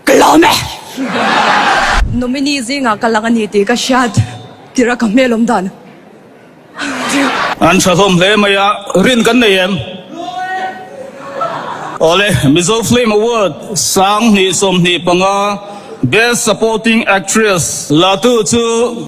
Ka la awm e! Nominee zingah ka lang a ni tih ka hriat tirh a, ka hmelawm dan a. An tha hlawm hle mai a, rin kan nei em? Awle, Mizo Film Award sang hnih sawm hnih panga Best Supporting Actress latu chu.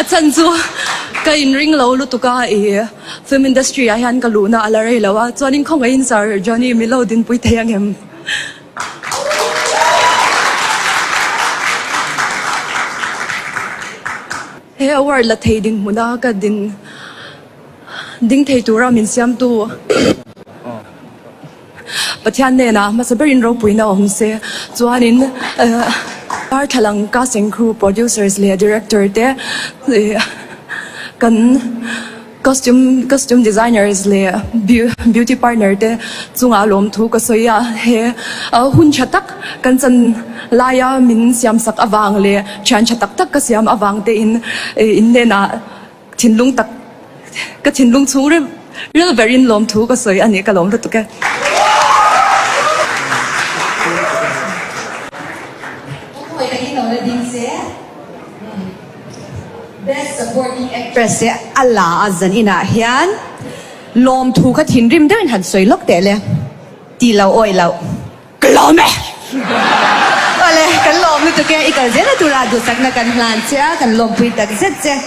A chhan chu ka inring lo lutuk a, i film industry ah hian ka luhna a la rei lo a, chuanin khawngaihin Sir Johnny mi lo dinpui thei ang em? He award la thei dinhmuna ka din ding thei tura min siamtu. Pathian nênah hmasa berin ropuina awm se chuanin Darthlalang cast and crew, producers leh director te leh kan costume costume designers leh beauty partner te chungah lawmthu ka sawi a. He hun ṭha tak kan chan laia min siamsak avang leh ṭhian ṭha tak tak ka siam avangtein innênah. Thinlung tak ka thinlung chhung ril ril verin lawmthu ka sawi a nih ka lawm lutuk e. Best Supporting Actress e a la a zan inah hian lawmthu ka thinrim deuhin han sawi lawk teh le ti lo awi lo ka lawm e. Awle kan lawm lutuk e i kal zel a tura duhsakna kan hlan che a kan lawmpui takzet che.